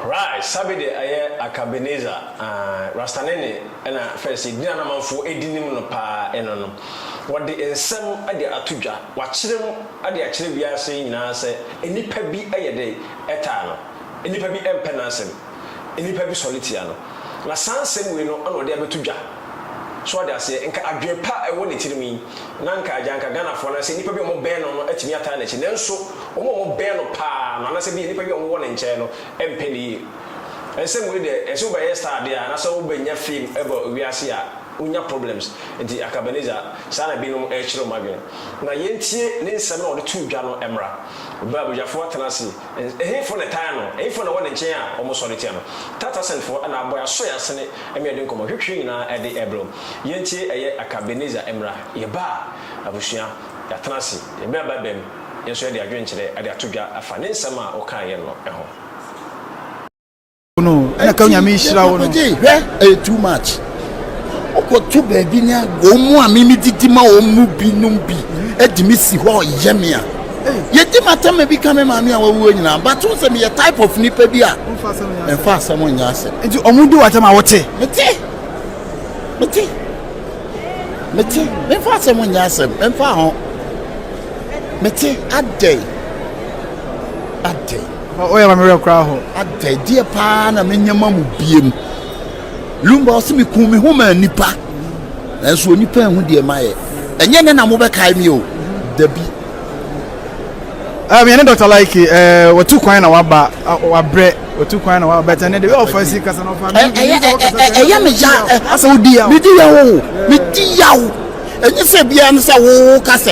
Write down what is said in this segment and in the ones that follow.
Right sabi de ɛyɛ akabeneza aah rastanene ɛna fɛs edin a na amanfoɔ edi nim no paa eno no wɔde nsɛm de ato dwa wakyerɛ mu de akyerɛ wiase nyinaa sɛ nipa bi ɛyɛ dɛn ɛtaa no nipa bi ɛmpɛ n'asɛm nnipa bi sɔre tia no, na saa nsɛm wei no na ɔde abɛto dwa. So wate aseɛ? Nka adwene pa a ɛwɔ ne tirim yi, na nka agya, nka Ghanafoɔ anaasɛ nnipa bi a wɔbɛn no no atumi ataa n'akyi. Nanso wɔn a wɔbɛn no pa ara no, anaasɛ ebia nnipa bi a wɔwɔ ne nkyɛn no mpɛ ne yie. Nsɛm wei deɛ, ɛsɛ wobɛyɛ star adeɛ a, anaasɛ wobɛnya fame wɔ wiase a, wonya problems. Nti anka Ebenezer, saa na binom rekyerɛ wɔn adwene. Na yɛntie ne nsɛm no a ɔde too dwa no mmra. Ɔbaa Abogyafoɔ atena ase, Ɛhefo na ɛtaa no? Ɛhefo na ɛwɔ ne nkyɛn a wɔsɔre tia no? Tatasenfo na abɔ yɛn aso yɛn asene ma yɛde nkɔmmɔ hwehwee nyinaa de rebrɛ wo. Yɛntie ɛyɛ Akabenezer mmra. Yɛbaa abusua, yɛatena ase, yɛbɛn ababaim, yɛn nso yɛde adwenkyerɛ de ato dwa afa ne nsɛm a ɔkaeɛ no ho. no na ka nyame nhyira wo no hwɛ ɛyɛ too much wokɔto baabi ne wɔn mu a memedidi ma wɔn mu binom bi adi me si hɔ ɔyɛ me a yɛdi matama bi ka me maame a wawuo nyinaa bato sɛ meyɛ type of nipa bi a ɛmfa asɛm nyɛ asɛm nti ɔmo di watam a wote mete mete mete memfa asɛm nyɛ asɛm memfa ho mete adɛn adɛn Hɔ yɛ ma me werɛ koraa hɔ. Adɛ, deɛ paa na menya ma mo biam? Lumba ɔse mekuu me ho maa nnipa, nanso onipa anhu deɛ mayɛ. Ɛnyɛ nnɛ na mobɛkae me o, dabi. Um, yɛne Dɔkta Laike, eh, watu kwan na waba, wabrɛ, watu kwan na waba, bɛtɛ ne de, ɔfa si kasa na ɔfa mi, ɛyɛ sɛ ɔkasa sɛ, ɛyɛ me ya, asɛ wodi yaw, medi yaw, medi yaw, ɛnyɛ sɛ biara ne sɛ wo kasa.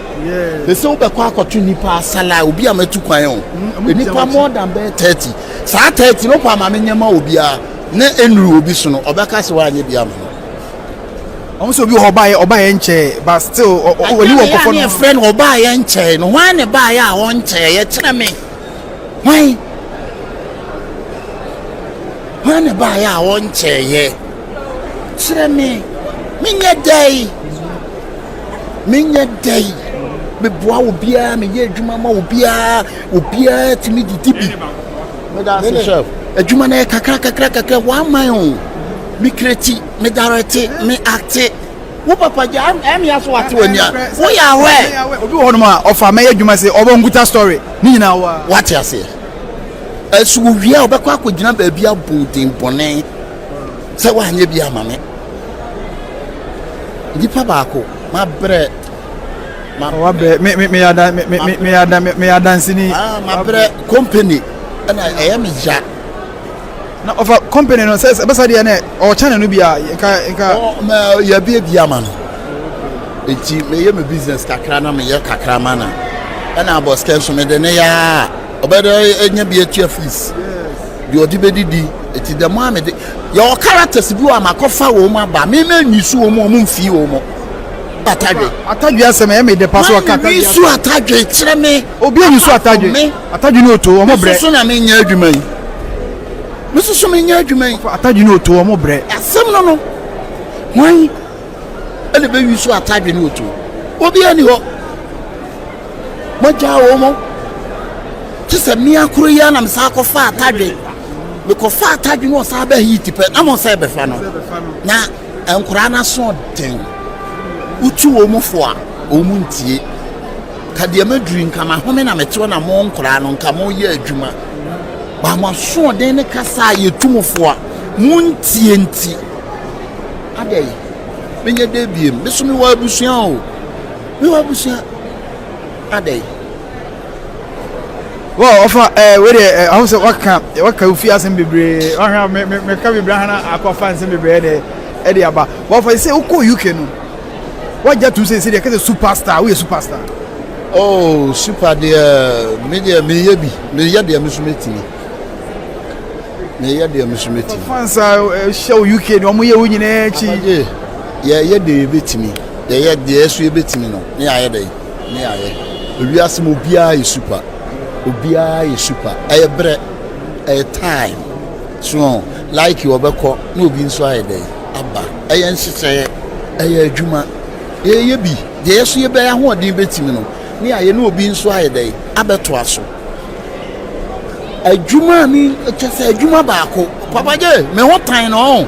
te sɛ wobɛkɔ akɔto nnipa asala a obi a matu kwan o mm, nnipa more than bɛyɛ thirty saa thirty no kɔ ama me nyɛma obiara na enuru obi so no ɔbɛka sɛ wanyɛ bi ama no ɔmo sɛ obi wɔ hɔ ɔbaayɛ ɔbaayɛ nkyɛɛ but still ɔni wɔ nkɔfɔ no ɛyɛ fɛ no ɔbaayɛ nkyɛɛ no wɔn ne baayɛ a ɔnkyɛɛ yɛ kyerɛ me wɔn wɔn ne baayɛ a ɔnkyɛɛ yɛ. Kyerɛ me, menyɛ dɛn? Menyɛ dɛn? Meboa obiara, meyɛ adwuma ma obiara, obiara tumi didi bi. Meda ase chef. Adwuma no yɛ kakra kakra kakra, wɔaman o. Me kreti, me darete, me ate. Wo papa gya, ɛmi aso ate wɔ nia. Wo yɛ awɛ. Obi wɔ hɔnom a, ɔfa mɛyɛ adwuma se, ɔbɔ nkuta story, ne nyinaa wa. Wate aseɛ. Ɛso wɔ wie a, ɔbɛkɔ akɔgyina baabi abɔ den bɔne. sɛ woanyɛ bi ama me nipa baako mabrɛ meyɛ adanseni ah, mabrɛ company ɛna ɛyɛ me ya na ɔfa company no sɛ ɛbɛsa deɛ ne ɔkyɛne no bia yɛbie bi ama no nti meyɛ me business kakra na meyɛ kakra ma no ɛna abɔskɛ nso mede ne yɛa ɔbɛda anya bi atua fees deɛ ɔde bɛdidi ɛti dɛm a mede yɛwɔ characters bi wɔ a makɔfa wɔ mu aba me na nyi so wɔ mu ɔmo mfii wɔ mu atadwe atadwe asɛm ɛyɛ me de pa so ɔka atadwe su atadwe kyerɛ me obi anyi so atadwe atadwe ne oto ɔmo brɛ soso na menyɛ adwuma yi me soso menyɛ adwuma yi atadwe ne oto ɔmo brɛ asɛm no no hwan ɛna bɛwi so atadwe ne oto obi ani hɔ Magyaa wɔn. Te sɛ mmea koro yi ara na mesan kɔfaa atadwe. Mekɔfaa atadwe no ɔsan bɛɛ heat pɛ na mo sɛ ɛbɛfa no. Na nkoraa no aso den. Wotu wɔn mu fo a, wɔn mu ntie. Ka deɛ maduru nka mahome na metew na mo nkoraa no nka mo yɛ adwuma. Ba mo asoɔden ne kasa a yɛtu mo fo a mo ntie nti. Adɛn? Menyɛ dɛ biem. Me so mewɔ abusua o. Yoo abusua adɛn. Wɔ ɔfa ɛɛ wei deɛ ɛho sɛ waka waka ofi asɛm bebree wahwɛ a mɛ mɛ mɛka bebree ahana akɔ afa nsɛm bebree ɛna ɛde aba wɔ ɔfa sɛ wokɔ UK no wagya tum sɛ sɛ deɛ kɛsɛ superstar woyɛ superstar. Oh super deɛ me deɛ meyɛ bi meyɛ deɛ me so mɛtumi meyɛ deɛ me so mɛtumi. Ɔfa nsa ɛhyɛ wɔ UK deɛ ɔmo yɛ wo nyinaa akyi. Yɛyɛ deɛ yɛbɛtumi. Yɛyɛ deɛ yɛso yɛbɛtumi no ne yɛayɛ dɛn? Ne yɛayɛ. Ewiase mu obiara yɛ super. Obiara yɛ super. Ɛyɛ berɛ. Ɛyɛ time. So like wɔbɛkɔ na obi nso ayɛ dɛn? Aba. Ɛyɛ nhyehyɛeɛ. Ɛyɛ adwuma. Yɛyɛ bi. Deɛ yɛso yɛbɛyɛ ahoɔden bɛtumi no ne yɛayɛ na obi nso ayɛ dɛn? Abɛtoa so. Adwuma ne kyɛ sɛ adwuma baako. Papa Gye, me ho tan no ɔn.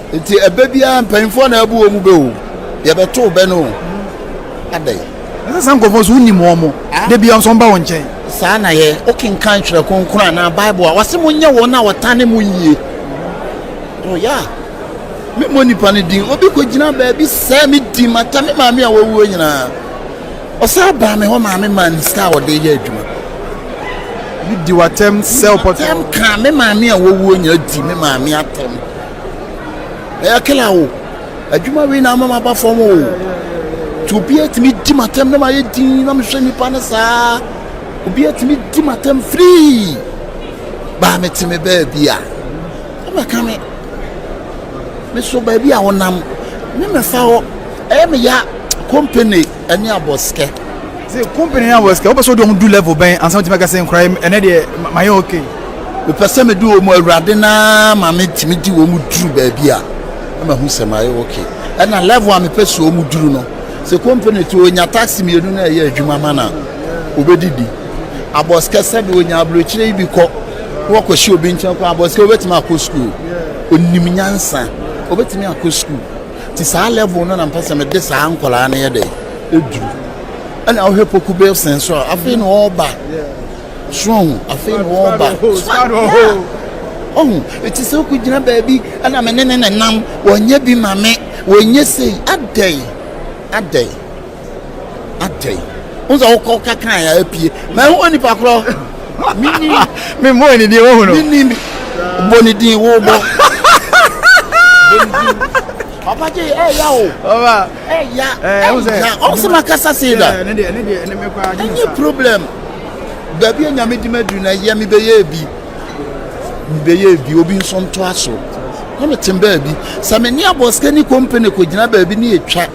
Nti ɛbɛ biara mpanyinfoɔ na ɛbu wɔn bɛ o, yɛbɛtow bɛ no o, adɛn. Ɛsɛ saa nkurɔfoɔ nso wonim wɔn, da biara nso wɔba wo nkyɛn. Saa na yɛ, wokenkan Twerɛ Kronkron anaa Bible a, wɔse monyɛ wɔn a wɔtane mo yie. Oh yeah, memmɔ nipa no din, obi kɔgyina baabi sɛɛ me din, mata me maame a wawuo nyinaa. Ɔsaa baa me hɔ maame maa ne sika a ɔde yɛ adwuma. Bi di w'atɛm sɛ ɔpɔtɔ. Atɛm kaa me maame a wawuo nyinaa di me maame atɛm. ɛyɛ kila o adwuma wei na ama maba fam o nti obi atumi di matam na mayɛ din na mehwɛ nnipa no saa obi atumi di matam firii baa mete me baabi a ɔmɛka me me so baabi a wonam ne mɛfa hɔ ɛyɛ meya company ɛne abɔsikɛ. Se company ne abɔsikɛ wopɛ sɛ wode ɔmo du level bɛn ansa wotumi aka sɛ nkora yi ɛnɛ deɛ mayɛ okay? Mepɛ sɛ mede wɔn awurade no ara ma metumi de wɔn duru baabi a na mahu sɛ mayɛ okay. Ɛna level a mepɛ sɛ wɔn duru no, sɛ company to onya taxi mmienu na ɛyɛ adwuma ma no a, obedi bi. Abɔsikɛ sɛbi onya aburokyire yi bi kɔ na wakɔhyɛ obi nkyɛn kɔ abɔsikɛ obetumi akɔ school. Onim nyansa, obetumi akɔ school. Nti saa level no na mpɛ sɛ mede saa nkwadaa no yɛ dɛ ɛduru ɛna wohwɛ poku bilson nso a afei na ɔreba sohu afei na ɔreba ɔhu ɛti sɛ wokɔgyina baabi ɛna me ne ne ne nam wɔnyɛ bi ma me wɔnyɛ sei adɛn adɛn atɛn. Wọ́n sọ ọkọ kankan ya apue. Ma ehu wɔ nipa korɔ. Mini. Mi mbɔ ne din wohu no. Mini mi. Bɔ ne din wo bɔ. Papa J, ẹ ya o. Ọba. Ẹ ya. Ẹ ya. Ọ sọ ma kasa se da. Ẹ nye problem. Baabi a nyame di ma duru na yẹ mi bẹ yẹ ebi. Mi bẹ yẹ ebi obi nso nto aso. Na mi te baabi. Sami ni abọ sikani kompani ko gyina baabi ni etwa.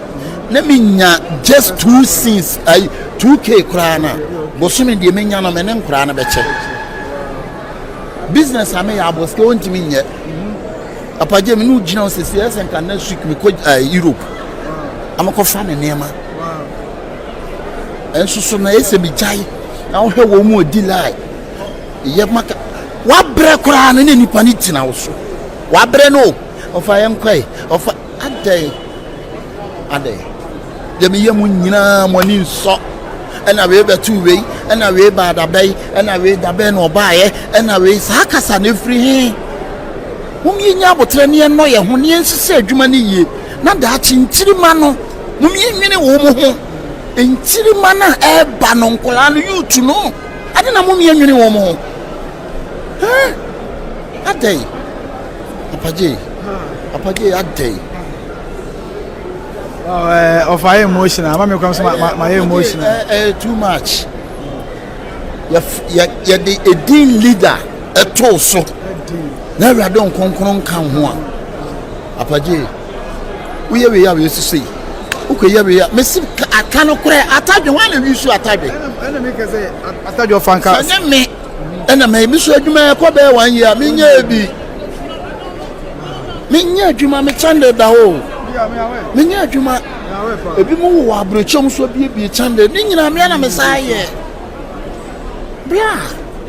na menya just two sins ayi two k koraa na bosome deɛ menya no me ne nkoraa no bɛkyɛ business a meyɛ abosike wɔntumi nyɛ apagye me ne wogyina wo sɛsi ɛsɛ nka next week mekɔ uh, europe amekɔfa me nneɛma ɛnso so na ɛsɛ megyae na wohwɛ wɔ mu ɔdi lie yɛ maka wabrɛ koraa no ne nnipa no gyina wo so wabrɛ no ɔfa yɛnkɔe ɔfa Adɛn, adɛn, deɛ meyɛ mo nyinaa mo ani nsɔ ɛna wei bɛtoo wei ɛna wei baa dabɛn ɛna wei dabɛn na ɔbaeɛ ɛna wei saa kasa no ɛfiri he mom yɛnya aboterɛ ne yɛnnɔ yɛ ho ne yɛnhyehyɛ adwuma no yie na daakye nkyirima no mom yɛnwene wo mo ho nkyirima no a ɛreba no nkɔlaa no yutu no ade na mom yɛnwene wo mo ho adɛn apagye Papa Jay adɛn? Ɔfa ayɛ emotional, ama me kwan so ma yɛ emotional. Ɛyɛ too much. Yɛde edin leader ɛtoo so na awurade nkonkron nka ho a. Papa Jay, woyɛ wei a wɔasisi yi, wokɔyɛ wei a, mesi aka no korɛ, atadwe, wɔn na wisu atadwe. Ɛna mi kɛ sɛ atadwe ɔfa nka. Sɛ nye me ɛna ma ebi so adwuma ɛkɔ bɛyɛ one year menyɛ ebi menyɛ adwuma me kyande da hɔ menyɛ adwuma ebi mu wɔ aburokyɛm so biebie kyande ne nyinaa mmea na me saa yɛ bra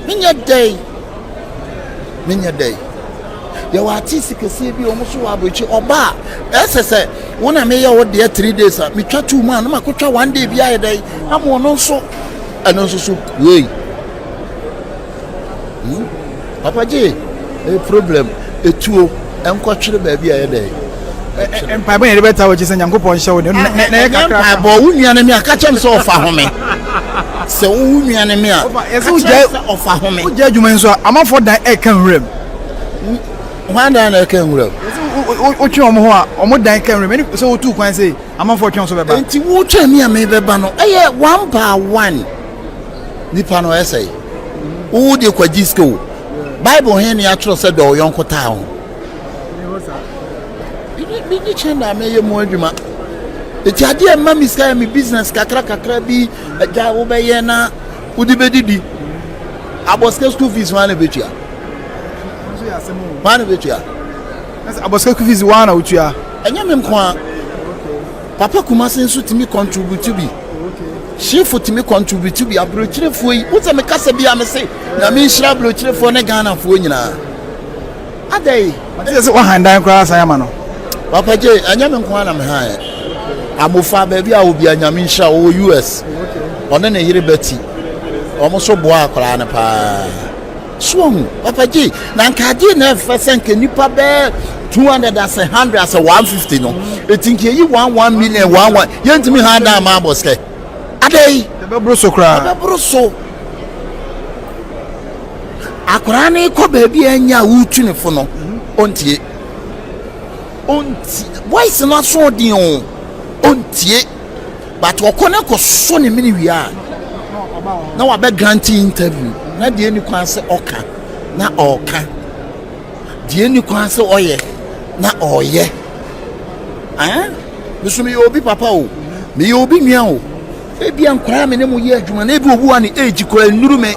menyɛ dɛn menyɛ dɛn yɛwɔ artist kɛseɛ bi a wɔn so wɔ aburokyɛ ɔba a ɛsɛ sɛ wɔn a meyɛ wɔ deɛ three days a metwa two mu a na makɔtwa one day bi ayɛ dɛn ama ɔno nso. Ɛno nso so wei. Hmm? Papa gye eh, problem etuo nkɔtwere baabi a yɛ dɛ. mpaebɔ yɛn de bɛta wɔ gye sɛ nyankopɔn hyɛ wo ne na yɛ kakra mpaebɔ wo nua no mi a ka kyɛm sɛ ɔfa home sɛ wowo nua no mi a ka kyɛm sɛ ɔfa home wogya adwuma nso a amafoɔ dan ɛka nwuram hwan dan na ɛka nwuram wotwe wɔn ho a wɔn dan ka nwuram ɛne sɛ wotu kwan sɛ amanfoɔ twɛn so bɛba. Enti wotwɛn me a mebɛba no, ɛyɛ one by one. Nipa no ɛsɛe. Wo deɛ kwagye sika o. Bible he ne atwerɛ sɛ dɔ ɔyɔnko taa ho. Megye kyɛn na mɛyɛ mu adwuma. Eti adeɛ ɛma me sika yɛ me business kakra kakra bi agya wobɛyɛ na wode bɛdidi. Abɔ sika school fees ho a na ɛbɛtua. Ho a na ɛbɛtua. Na sɛ abɔ school fees woaa na wotua? Ɛnyɛ me nko a. Papa Kumasi nso tumi contribute bi. Shifu tumi contribute bi. Aburokyirefoɔ yi, wo sɛ me kasa bi a me se, nyame nhyira aburokyirefoɔ ne Ghanafoɔ nyinaa. Adɛn? Ɔte sɛ sɛ wahan dan koraa san ama no. Papa Jay, ɛnyɛ me nko a na me han ɛ. Amofa baabi a obi a nyame nhyira wɔwɔ US. Ɔne ne yere Betty. Wɔn nso boaa akwaraa no paa. So wahu? Papa Gye, na nka adeɛ na ɛfɛ sɛ nka nipa bɛɛ 200 asɛ 100 asɛ 150 no ɛti nka ɛyi 1 1 million 1 1 yɛntumi ha da ama abɔ sɛ adɛn ɛbɛboro so koraa ɛbɛboro so akwaraa no kɔ baabi a ɛnyɛ a wotu ne fo no ɔntie ɔnti voice no aso ɔden o ɔntie but ɔkɔ na kɔ so ne mini wie a na wabɛ grant interview na deɛ ni kwan sɛ ɔka na ɔka deɛ ni kwan sɛ ɔyɛ na ɔyɛ ɛn eh? nso meyɛ obi papa o meyɛ obi nua o ebi nkwaraa mi ne mo yɛ adwuma na ebi owu a ne age kora nnuru me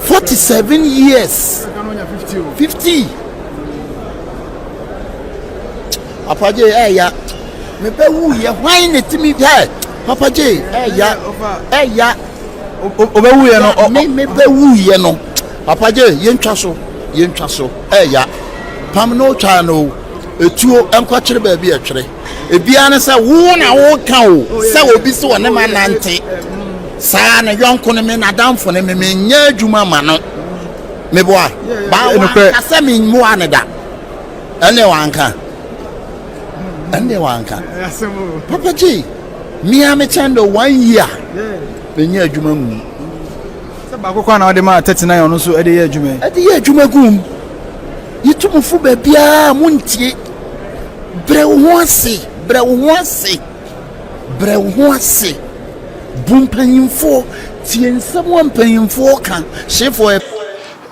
forty seven years fifty. Papa Jay ɛɛya mepɛ wuyɛ hwan na ɛtumi hɛ Papa Jay ɛɛya ɛɛya ɔbɛ wuyɛ no me mepɛ wuyɛ no Papa Jay yɛntwa so yɛntwa so ɛɛya pam no twa no etuo nkɔkyere baabi ɛtwere ebiara ne sɛ wo na woka o sɛ obi sɛ ɔne ma nante saa ne yɔnko ne me n'adamfo ne me menyɛ adwuma ma no meboa baa wɔn akasɛ me mmoa ne da Ɛnde wanka. Ɛnde wanka. Papa J, me a me kyɛn dɛ one year na nyɛ adwuma mu. Sɛ baako kwan na ɔde maa thirty nine ɔno nso ɛde yɛ adwuma yi. Ɛde yɛ adwuma gum. Yitu mo fo baabiara mo ntie. Brɛ wo ho ase, brɛ wo ho ase, brɛ wo ho ase. Bu mpanyinfoɔ, tie nsɛm a mpanyinfoɔ ka, hyefoɔ.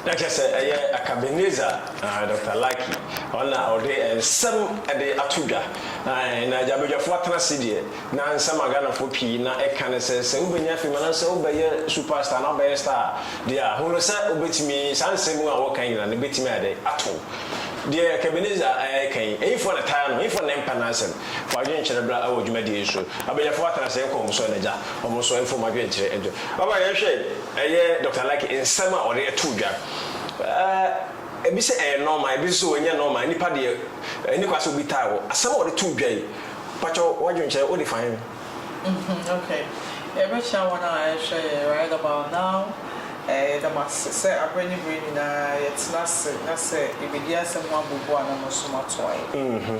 Na kyerɛ sɛ ɛyɛ Akabenezer. Dɔkta Lackey ɔna ɔde nsɛm de ato dwa. Na gya badwafoɔ atena ase deɛ, na nsɛm a Ghanafoɔ pii na ɛka ne sɛ, sɛ wobɛnya fame anaasɛ wobɛyɛ super star anaa wobɛyɛ star a, deɛ a, hunu sɛ wobɛtumi, saa nsɛm a wɔka nyina no bɛtumi ayɛ dɛn? Ato wo. Deɛ Ebenezer reka yi, ɛhefoɔ na ɛtaa no? Hefoɔ na ɛmpa n'asɛm? Fa adwene kyerɛ bra wɔ dwumadie yi so. Abadwafoɔ atena ase nkɔ wɔn so ɛna gya wɔn so mfa wɔn adwene kyerɛ nto. Ɔba yɛnhwɛ ɛyɛ Dɔkta Lackey nsɛm a ɔde to dwa. Ɛɛ, ebi sɛ ɛyɛ nɔɔma, ebi nso sɛ ɛnyɛ nɔɔma, nnipa deɛ ɛnni kwan sɛ obi taa wo. Asɛm a wɔde too dwa yi, pakyɛ w'adwenkyerɛ, wode fa he? Mm-hmm, okay. Yɛbɛkyia wɔn a wɔrehwɛ yɛn right about now. Ɛɛ, yɛda mo ase sɛ aberɛ ne berɛ nyinaa yɛtena ase na sɛ yɛbɛdi asɛm ho abɔ bu a na mo nso moatoa yɛn. Mm-hmm.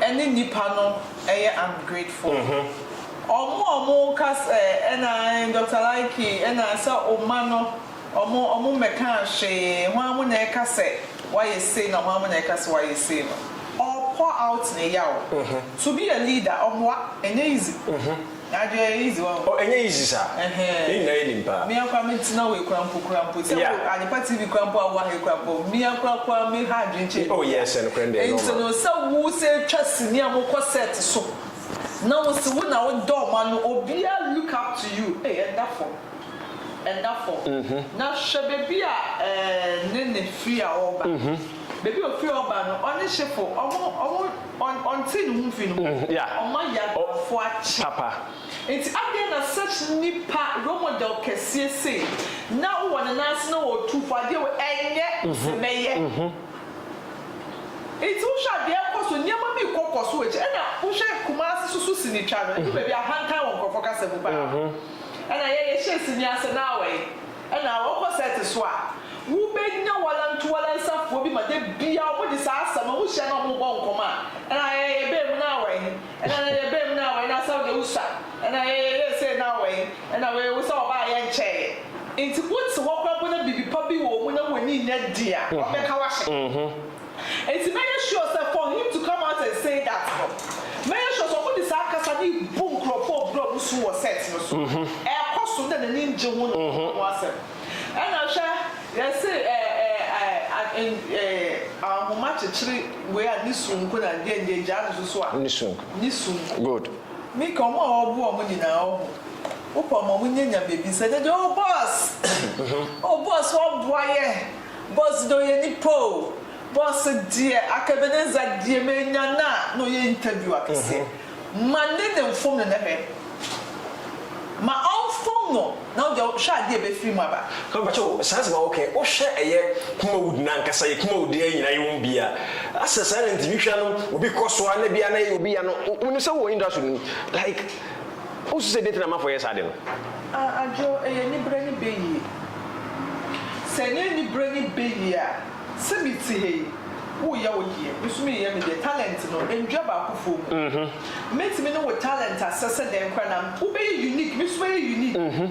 ɛne nipa no yɛ ungrateful ɔmo a ɔmo ka sɛ ɛna Doctor Likey ɛna sɛ oma no ɔmo ɔmo mmɛkaa hwee hwan mo na ɛka sɛ wayɛ sei na hwan mo na ɛka sɛ wayɛ sei no ɔɔ pour out ne yaw to be a leader ɔboa ɛnyɛ easy. Adwen yɛ easy wahu. Oh ɛnyɛ easy saa. Ɛhɛɛ. Yɛn nyinaa yɛ nimpaa. Mea koraa me tena wei koraa mpo koraa mpo sɛ Yeah. wo Adepa TV koraa mpo a wo wɔ ha yi koraa mpo mea koraa koraa me ha adwen kyɛn Oh biribiara. yes ɛnokorɛ no deɛ ɛnyɛ Nti ɔma. no sɛ wo sɛ twa sini a mo kɔ set so na wo se wo na wo da ɔmo ano obia look up to you ei ɛnda fɔm ɛnda fɔm na hwɛ baabi a ɛɛ Nene firi a ɔɔba baabi a ofiri ɔɔba no ɔne hyefo ɔmo ɔmo Ɔnte ne ho mfi ne ho. Ɔma yɛn abrafo akye. Papa. Nti adɛn na such nipa, role model kɛseɛ sei, na wowɔ ne nan ase na ɔretu fo adeɛ wei ɛnyɛ sɛ mɛyɛ. Nti wohwɛ a deɛ ɛrekɔ so, nneɛma bi rekɔ kɔ so wɔ akyire. Ɛna wohwɛ Kumasi so so sinitwa no, ɛdu baabi a ahantan wɔ nkurɔfoɔ kasa mu paa. Ɛna yɛn yɛhyɛɛ sini ase na awɛe. Ɛna wɔkɔ sɛɛte so a, wobɛnya walantowalansafoɔ bi ma da biara wɔde saa asɛm no wɔhyia na wɔbɔ nkɔmmɔ a, ɛna yɛyɛ yɛ bɛn mu no awɔ he? Ɛna yɛyɛ yɛ bɛn mu no awɔ he? Ɛna Saudi Usa? Ɛna yɛyɛ yɛ yɛ sei no awɔ he? Ɛna wei Usa wɔbaa yɛ nkyɛeɛ. Nti wote hɔ koraa mpo na biribi pa bi wɔ wo mu na w'ani nyɛ den a, wɔbɛka w'ahyɛ. Enti mɛyɛ sure sɛ for him to come out and say that no, mɛyɛ sure sɛ wɔde saa kasa no rebu nkurɔfo a wɔbrɛ wɔn su wɔ set no so. Ɛrekɔ so na n'ani ngye ho na ɔreka ho asɛm. Ɛna hwɛ, yɛse ahoma kyekyere wei a ne su nko na deɛ ndeɛ gyaa no so so a. Ne su nko. Ne su nko. Good. Mika, wɔn a wɔboa wɔn nyinaa ɔho, wopɛ wɔn a wɔnyɛ nyame bi sɛ, ne deɛ oh boss, oh boss wɔboa yɛn. Bɔs dɛ ɔyɛ nipa o. Bɔs deɛ aka Ebenezer deɛ menya no a na ɔyɛ interview akɛseɛ. Ma ne ne nfom no na hwɛ. Ma ɔnfom no na wo deɛ hwɛ adeɛ a ɛbɛfiri mu aba. Ka mpakyɛ o saa asɛm a wo kɛ wo hwɛ ɛyɛ kumawood no ankasa yɛ kumawood deɛ nyina yɛ wɔn bia asɛ saa na nti me hwɛ no obi kɔ so a na bia na yɛ obi ya no wo nim sɛ wo wɔ industry no mu like Wosu sɛ dɛn nti na amanfoɔ yɛ saa ade no? A Adwo, ɛyɛ anibere ne bɛ yie. Sɛ ɛnyɛ anibere ne bɛ yie a, sɛ me te ha yi, wo reyɛ wo deɛ, me nso mereyɛ me deɛ, talent no, ɛndwa baakofoɔ mu. Mɛtumi ne wo talent asɛ sɛ dɛn koraa na wo bɛyɛ unique, me nso mɛyɛ unique.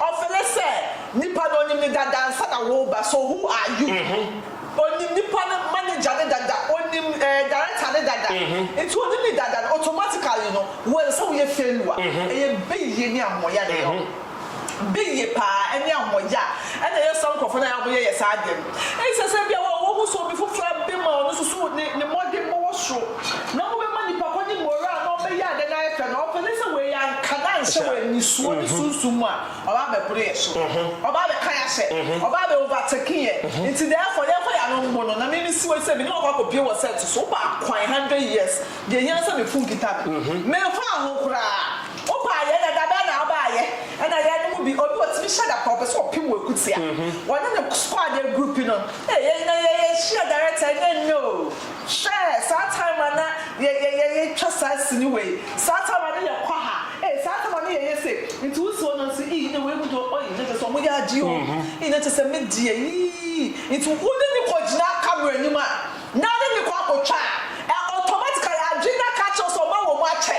Ɔse ne sɛ nipa no onim ne dada ansa na woba so who are you onim nipa no manager ne dada onim eh director ne dada nti onim ne dada no automatically no wo ɛsɛ sɛ woyɛ failure ɛyɛ beyie ne ahoɔyɛ na ɛyɛ ɔno beyie paa ɛne ahoɔyɛ a ɛna ɛyɛ saa nkorɔfoɔ no a wɔyɛ yɛ saa adeɛ no ɛne sɛ sɛ bia wo a wohu sɛ obi foforɔ abem a ɔno nso so ne ne mmɔdenbɔ wɔ soro. Na mobɛma nipa kɔ ne moral na ɔbɛyɛ ade no ayɛ fɛ na ɔpɛ ne sɛ wei anka na anhyɛ wɔ anisoɔ ne sunsum mu a, ɔba abɛboro yɛ so. Ɔba abɛka yɛ ahyɛ. Ɔba abɛ overtake yɛ. Nti therefore yɛnkɔ yɛ ano mmo no na me mesi hɔ yi sɛ me ne wakɔ akɔpie wɔ set so, wopɛ akwan hundred years, deɛ ɛhia ne sɛ me fun kita no. Memfaa ho koraa. Wopɛ ayɛ na da bɛn na wobɛ ayɛ? Ɛna yɛn no mu bi, obi ɔtumi hyɛ da koraa ɔpɛ sɛ ɔpem wo akutia. Ɔne ne squad agroupi no. Ei, ɛnna yɛyɛ hyia direct a, ɛnyɛ nnɛ o. Hwɛ saa time a na yɛ yɛ yɛ yɛ twa saa sini wei saa time a na yɛ kɔ ha ee saa time a na yɛ yɛ sei nti wo si ɔno nso ii na wei mu deɛ ɔii na kyerɛ sɛ ɔmo yɛ adeɛ oo ii na kyerɛ sɛ me deɛ iii nti wo ne ne kɔ gyina camera anim a na ne ne kɔ akɔ twa a ɛ automatically adwene no aka akyerɛ wo sɛ ɔbɛ wɔ mu akyɛ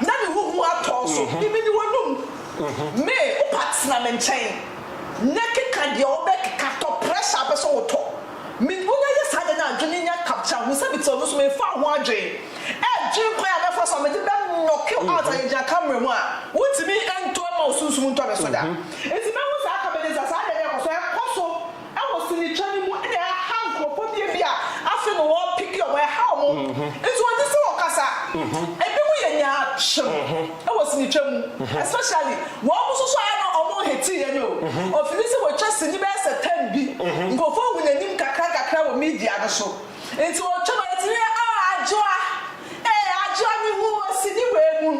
na ne ho hu atɔ wo so imi ne w'anum me wo pa tena me nkyɛn na keka deɛ wo bɛ keka tɔ pressure a bɛ sɛ wo tɔ. Me ne wɔn ayɛ saa ade na adwene nya capture ho sɛ mete hɔ no nso memfaa ho adwene ɛredwene kwan a mɛfa so a mede bɛ knock you out a yɛgyina camera mu a wontumi nto mma wo sunsum ntɔ me so da. Nti mahu saa comedy nsa saa deɛ na ɛkɔ so ɛkɔ so ɛwɔ sinitwa no mu ɛna ɛha nkorɔfoɔ bi ebi a afei na wɔn picki wɔn ɛha wɔn nti wɔn te sɛ wɔn kasa ebi mo yɛ nyaa kyem. Ɛwɔ sini twa mu especially wɔn mo nso so ayɛ no wɔn hate yɛ no o ɔfini sɛ wɔtwa sini bɛyɛ sɛ ten bi nkurɔfoɔ ahu nanim kakra kakra wɔ media no so nti wɔtwa no yɛtumi yɛ ah adwoa ee adwoa me hu wɔ sini wei mu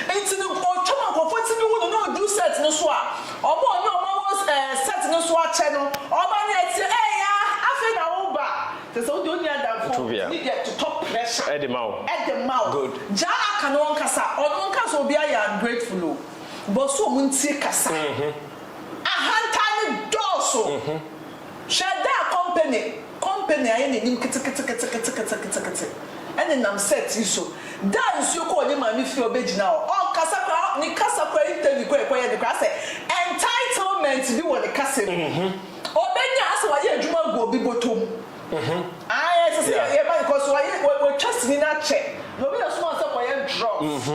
nti no ɔtwa ma nkurɔfoɔ tumi hu no na ɔdu set no so a wɔn ɔne wɔn awɔ eh set no so akyɛ no wɔn ani ateɛ ee ya afei na wo ba Te sɛ wode onua adamfo ne deɛ totɔ pressure de ma wo. Good. Gyaa no aka no ɔnkasa ɔno nka sɛ obiara yɛ ungrateful o but so ɔmo ntie kasa ahantan no dɔɔso hwɛ da a company company ayɛ n'anim keteketeketeketeketekete ɛne nam set yi so da a nsuo kɔɔ ne maame fie a ɔbɛgyina hɔ ɔnkasa koraa ne kasa koraa interview koraa a yɛkɔyɛ no koraa asɛ entitlement bi wɔ ne kasa mu. Ɔbɛnya asɛ wayɛ adwuma agu obi bɔtɔ mu. Ae ɛsɛ sɛ yɛ yɛma no cause wayɛ wa watwa sini no akyɛ na obi na soma no sɛ kɔyɛ drugs.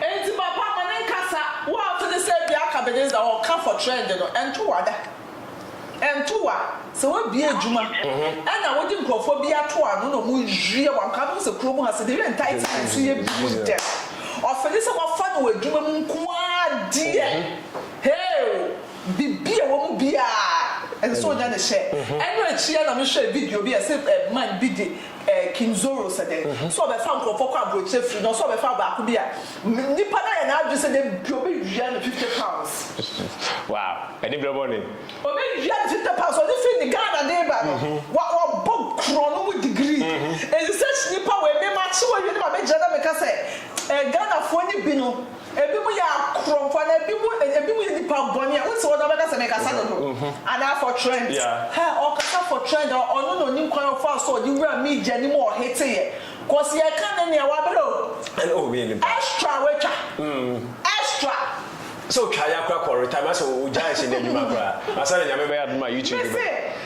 Enti papa ma no nkasa wo a wote ne sɛ bi aka beden dza ɔka for trend no ɛnto wa da. Ɛnto wa sɛ wabie adwuma ɛna wode nkurɔfoɔ bi ato ano na ɔmo yɛ wo anka wobɛhu sɛ kuro mu ha sɛ de yɛ entitlement so yɛ bi mu dɛm ɔfili sɛ wafa no wɔ adwuma mu nko ara deɛ hee o. Biribi a ɛwɔ mu biara, ɛsɛ sɛ ɔnya ne share. Ɛno akyi ara na mehwɛɛ video bi a ɛse man bi de King Zoro sɛ dɛn, sɛ ɔbɛfa nkurɔfoɔ kɔ aburokyire firi no ɔsɛ ɔbɛfa baako bi a, nipa no ayɛ n'adwene sɛ da bi ɔbɛwia no fifty pounds. Wow! Ɛne berɛ bɔ ne? Ɔbɛwia no fifty pounds, ɔde firi ne Ghana de ba no, wabɔ korɔno mu degree. Ɛnti sɛ nipa wei, me makye wawie na ma bɛgyina na meka sɛ Ghanafoɔ no bi no, Ebinom yɛ akorɔmfo anaa ebinom ebinom yɛ nnipa bɔne a wosɛ wɔde abɛka sɛ mekasa dodo anaa for trend. Hɛ, ɔkasa for trend a, ɔno na onim kwan a ɔfaa so a ɔde wuraa media no mu a ɔheteeɛ. Cause yɛka no nea wabere o. Ɛne oho bɛyɛ nipa. Extra a watwa. Extra. Sɛ otwa ya koraa kɔ retire, anaasɛ ogyae hyɛn adwuma koraa ansa na Nyame bɛyɛ adom a YouTube bɛba. Mese.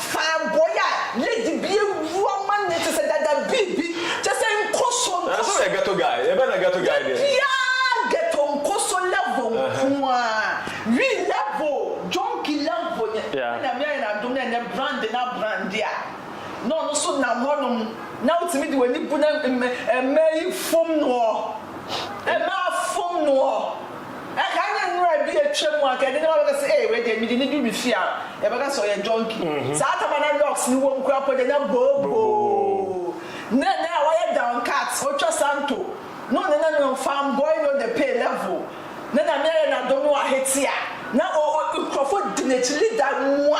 Fanboy a lady bi awu ama no te sɛ dada bii bi kyɛ sɛ nkɔsɔ nkɔsɔ. Nanso yɛ ghetto guy yɛ bɛ na ghetto guy deɛ. Dabiaa ghetto nkɔsɔ level nkoaa we level junky level nyɛ na nyame ayɛ no adom na ɛnɛ brand na brande a na ɔno nso nam hɔ nom na wotumi de w'ani bu na mmaa yi fom noɔ mmaa fom noɔ. Ɛka ne nwura bi atwa mu anka ɛde ne ba bɛka sɛ ee wei deɛ mede no duru fie a yɛbɛka sɛ ɔyɛ junkie. Saa tam a na locks no wɔ mu koraa mpo deɛ na booboo. Na ɛnnɛ a wayɛ down cut, ɔtwa santo na ɔne na nwom fan boy no de pay level na Nyame ayɛ no adom na wahete a na nkurɔfo di n'akyi leader mua.